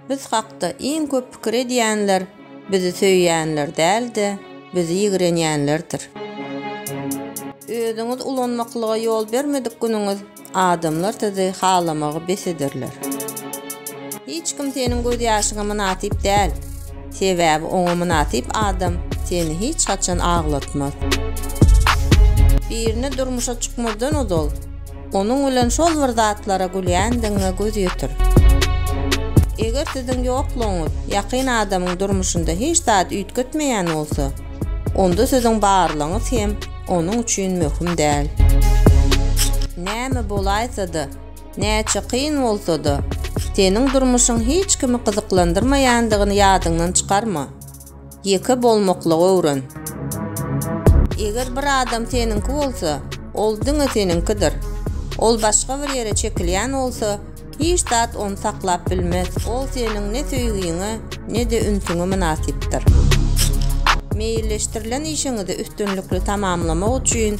Biz hakda iň köp pikir edýänler bizi söýýänler däl-de, bizi ýigrenýänlerdir. Özüňizi ulanmaklyga ýol bermedik günüňiz adamlar sizi halamagy bes ederler. Hiç kim seniň gözýaşyňa mynasyp däl, sebäbi oňa mynasyp adam seni hiç haçan aglatmaz. Birine durmuşa çykmazdan ozal, Onuň bilen şol bir zatlara gülýändigiňe göz ýetir. Eger siziň ýoklugyňyz ýakyn adamyň durmuşynda hiç zat üýtgetmeýän bolsa, onda siziň barlygyňyz hem onuň üçin möhüm däl. Näme bolaýsa-da, näçe kyn bolsa-da, seniň durmuşyň hiç kimi gyzyklandyrmaýandygyny ýadyňdan çykarma. Ýeke bolmaklygy öwren. Eger bir adam seniňki bolsa, ol diňe seniňkidir. Ol başga bir ýere çekilýän bolsa, hiç zat ony saklap bilmez. Ol seniň ne söýgiňe, ne-de ünsüňe mynasypdyr. Meýilleşdirilen işiňizi üstünlikli tamamlamak üçin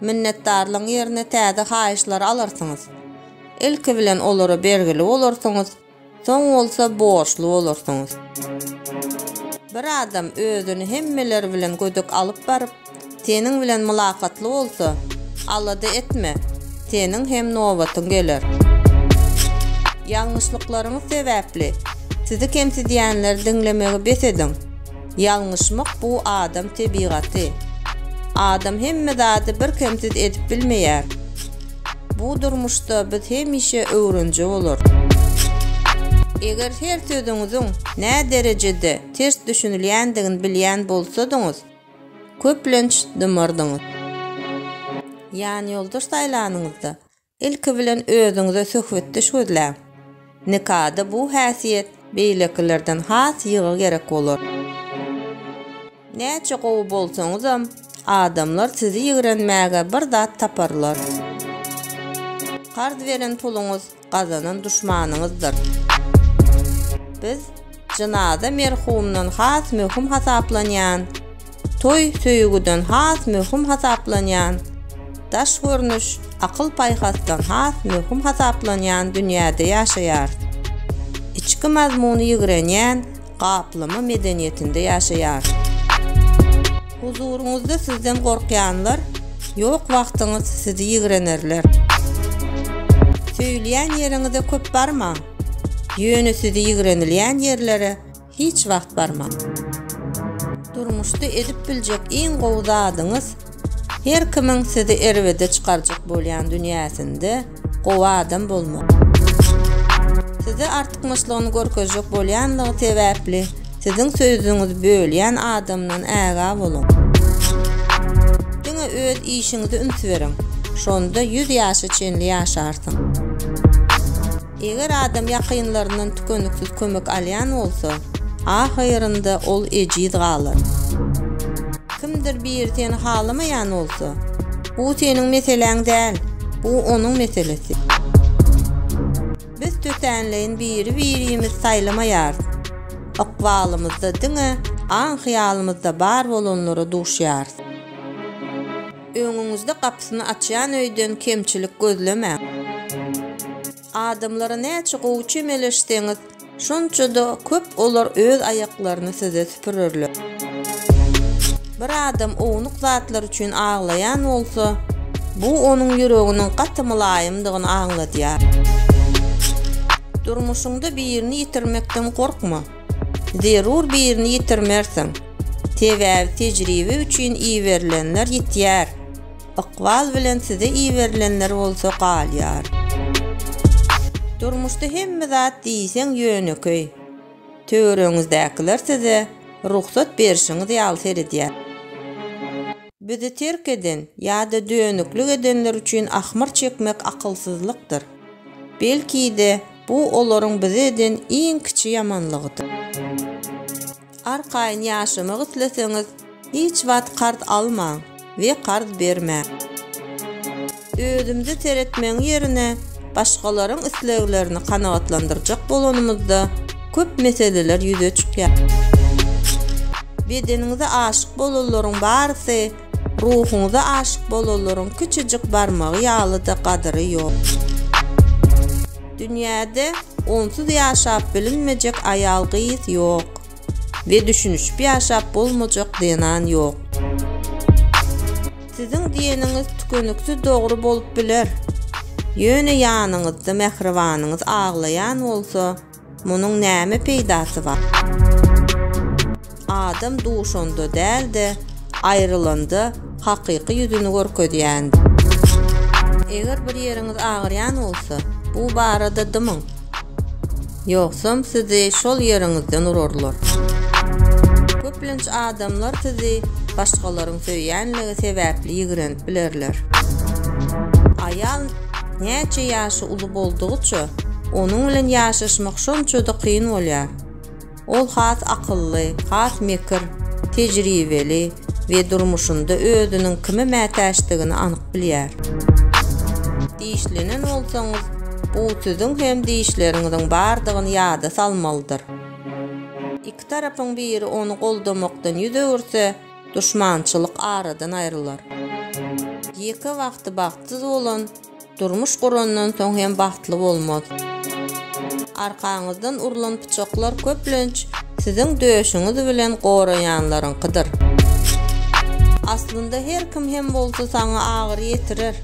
Minnetdarlygyň ýerine täze haýyşlary alarsyňyz. Ilki bilen olara bergili bolarsyňyz, soň bolsa borçly bolarsyňyz. Bir adam özüni hemmeler bilen gödek alyp baryp, seniň bilen mylakatly bolsa, alada etme, seniň hem nobatyň geler. Ýalňyşlyklaryňyz sebäpli sizi kemsidýänleri diňlemegi bes ediň. Ýalňyşmak bu adam tebigaty. Adam hemme zady birkemsiz edip bilmeýär. Bu durmuşda biz hemişe öwrenje bolarys. Eger her sözüňiziň nä derejede ters düşünilýändigini bilýän bolsadyňyz, köplenç dymardyňyz. Ýanýoldaş saýlanyňyzda, Ilki bilen özüňize söhbetdeş gözläň. Nikada bu häsiýet beýlekilerden has ýygy gerek bolar. Näçe gowy bolsaňyzam, adamlar sizi ýigrenmäge bir zat taparlar. Karz beren puluňyz gazanan duşmanyňyzdyr. Biz Jynaza merhumdan has möhüm hasaplanýan, toý söýgüden has möhüm hasaplanýan, daş görnüş akyl-paýhasdan has möhüm hasaplanýan dünýäde ýaşaýar. Içki mazmuny ýigrenýän gaplama medeniýetinde ýaşaýar. Huzuryňyzda sizden gorkýanlar ýok wagtyňyz sizi ýigrenerler. Söýülýän ýeriňize köp barmaň. Ýöne sizi ýigrenilýän ýerlere hiç wagt barmaň. Durmuşda edip biljek iň gowy zadyňyz, her kimiň sizi erbede çykarjak bolýan dünýäsinde gowy adam bolmak. Size artykmaçlygyny görkezjek bolýanlygy sebäpli Siziň söýzüňizi bölýän adamdan ägä boluň. Diňe öz işiňize üns beriň. Şonda ýüz ýaşa çenli ýaşarsyň. Eger adam ýakynlaryndan tükeniksiz kömek alýan bolsa, ahyrynda ol ejiz galar. Kimdir biri seni halamaýan bolsa, bu seniň meseläň däl, bu onuň meselesi. Biz tötänleýin biri-birimizi saýlamaýarys. Ykbalymyzda diňe aň-hyýalymyzda bar bolanlara duşýarys. Öňüňizde gapysyny açýan öýden kemçilik gözlemäň. Adamlara näçe gowy çemeleşseňiz, şonça-da köp olar öz aýaklaryny size süpürerler. Bir adam ownuk zatlar üçin aglaýan bolsa, bu onuň ýüreginiň gaty mylaýymdygyny aňladýar. Durmuşyňda birini ýitirmekden gorkma. Zerur birini ýitirmersiň. Sebäbi tejribe üçin iberilenler ýitýär, ykbal bilen size iberilenler bolsa galýar. Durmuşda hemme zat diýseň ýönekeý. Töweregiňizdäkiler size rugsat berşiňiz ýaly seredýär. Bizi terk eden ýa-da dönüklik edenler üçin ahmyr çekmek akylsyzlykdyr. Belki-de, bu olaryň bize eden iň kiçi ýamanlygydyr. Arkaýyn ýaşamak isleseňiz, Hiç wagt karz almaň we karz bermäň. Özümize seretmegiň ýerine başgalaryň isleglerini kanagatlandyrjak bolanymyzda köp meseleler ýüze çykýar. Bedeniňize aşyk bolanlaryň barysy ruhuňyza aşyk bolanlaryň kiçijik barmagy ýaly-da gadyry ýok. Dünýäde onsuz ýaşap bilinmejek aýal-gyz ýok. We düşünişip ýaşap bolmajak zenan ýok. Siziň diýeniňiz tükeniksiz dogry bolup biler. Ýöne ýanyňyzda mähribanyňyz aglaýan bolsa, munuň näme peýdasy bar? Adam duşanda däl-de, aýrylanda hakyky ýüzüni görkezýändir. Eger bir ýeriňiz agyrýan bolsa, bu barada dymyň. Ýogsam sizi şol ýeriňizden urarlar. Köplenç adamlar sizi başgalaryň söýýänligi sebäpli ýigrenip bilerler. Aýal näçe ýaşy uly boldugyça, onuň bilen ýaşaşmak şonça-da kyn bolýar. Ol has akylly, has mekir, tejribeli. we durmuşynda özüniň kime mätäçdigini anyk bilýär. Dişlenen bolsaňyz, bu siziň hem dişleriňiziň bardygyny ýada salmalydyr. Iki tarapyň biri ony goldamakdan ýüz öwürse, duşmançylyk aradan aýrylar. Ýeke wagty bagtsyz bolan, Durmuş gurandan soň hem bagtly bolmaz. Arkaňyzdan urlan pyçaklar köplenç siziň döşüňiz bilen goraýanlaryňkydyr. Aslynda her kim hem bolsa saňa agyry ýetirer.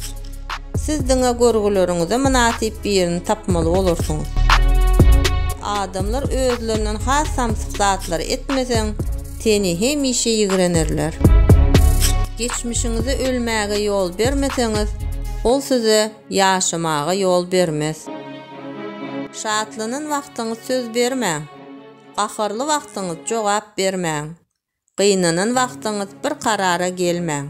Siz diňe görgüleriňize mynasyp birini tapmaly bolarsyňyz. Adamlar özlerinden has samsyk zatlary etmeseň, Seni hemişe ýigrenerler. Geçmişiňize ölmäge ýol bermeseňiz, ol size ýaşamaga ýol bermez. Şatlanan wagtyňyz söz bermäň. Gaharly wagtyňyz jogap bermäň. Gynanan wagtyňyz bir karara gelmäň.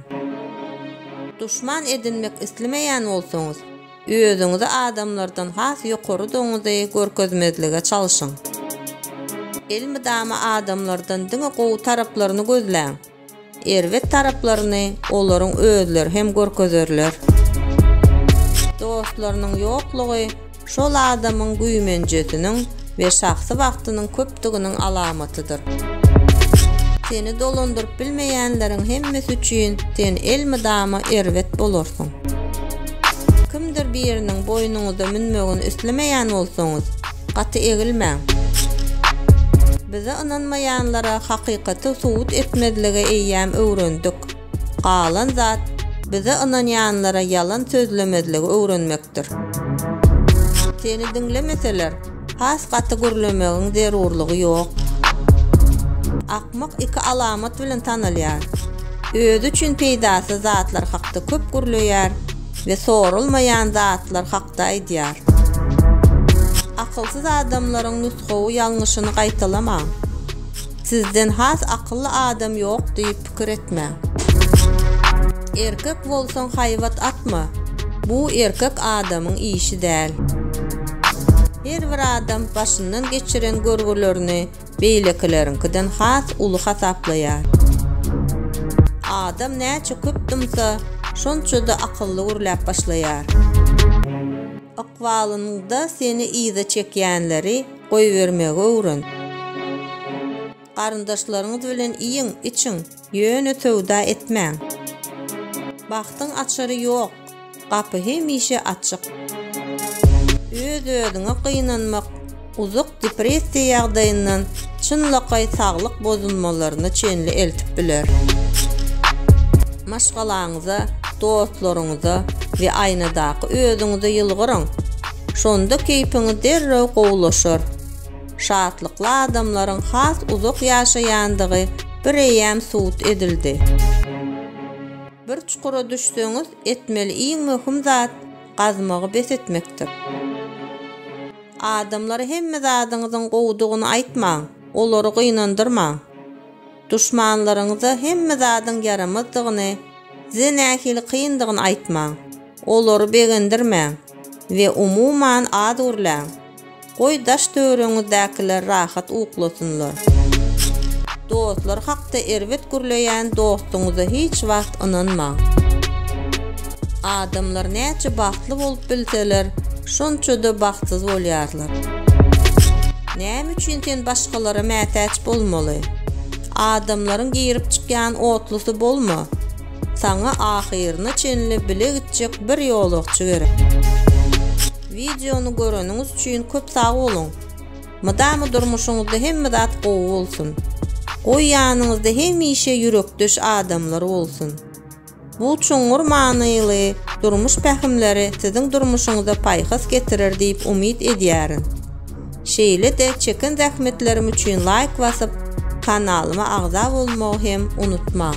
Duşman edinmek islemeýän bolsaňyz, Özüňizi adamlardan has ýokarydygyňyzy görkezmezlige çalşyň. Elmydama adamlardan diňe gowy taraplaryny gözläň. Erbet taraplaryny olaryň özleri hem görkezerler. Dostlarynyň ýoklugy şol adamyň güýmenjesiniň we şahsy wagtynyň köpdüginiň alamatydyr. Seni dolandyryp bilmeýänleriň hemmesi üçin sen elmydama erbet bolarsyň. Kimdir biriniň boýnuňyza münmegini islemeýän bolsaňyz, gaty egilmäň. Bize ynanmaýanlara hakykaty subut etmezlige eýýäm öwrendik. Galan zat, bize ynanýanlara ýalan sözlemezligi öwrenmekdir. Seni diňlemeseler, has gaty gürlemegiň zerurlygy ýok. Akmak iki alamat bilen tanalýar. Özi üçin peýdasyz zatlar hakda köp gürleýär we sorulmaýan zatlar hakda aýdýar. Akylsyz adamlaryň nusgawy ýalňyşyny gaýtalamaň. Sizden has akylly adam ýok diýip, pikir etmäň. Erkek bolsaň haýbat atma. Bu erkek adamyň işi däl. Her bir adam başyndan geçiren görgülerini beýlekileriňkiden has uly hasaplaýar. Adam näçe köp dymsa, şonça-da akylly gürläp başlaýar. Ykbalyňda seni yza çekýänleri goýbermegi öwren. Garyndaşlaryňyz bilen iýiň, içiň, ýöne söwda etmäň. Bagtyň açary ýok, gapy hemişe açyk. Öz-özüňe gynanmak uzak depressiýa ýagdaýyndan çynlakaý saglyk bozulmalaryna çenli eltip biler. Maşgalaňyza, dostlaryňyza we aýnadaky özüňize ýylgyryň. Şonda keýpiňiz derrew gowulaşar. şatlykly adamlaryň has uzak ýaşaýandygy bireýýäm subut edildi. Bir çukura düşseňiz, etmeli iň möhüm zat, gazmagy bes etmekdir. Adamlara hemme zadyňyzyň gowudygyny aýtmaň, olary gynandyrmaň. Duşmanlaryňyza hemme zadyň ýaramazdygyny, size nähili kyndygyny aýtmaň, olary begendirmäň we umuman az gürläň. Goý daş-töwereňizdäkiler rahat uklasynlar. Dostlar hakda erbet gürleýän dostuňyza hiç wagt ynanmaň. Adamlar näçe bagtly bolup bilseler, şonça-da bagtsyz bolýarlar. Näme üçin sen başgalara mätäç bolmaly? Adamlaryň girip-çykýan otlusy bolma. Saňa ahyryna çenli bile gitjek bir ýolagçy gerek. Wideony göreniňiz üçin köp sag boluň! Mydama durmuşyňyzda hemme zat gowy bolsun! Goý ýanyňyzda hemişe ýürekdeş adamlar bolsun! Bu çuňňur manyly durmuş pähimleri siziň durmuşyňyza paýhas getirer diýip umyt edýärin! Şeýle-de çeken zähmetlerim üçin laýk basyp, kanalyma agza bolmagy hem unutmaň!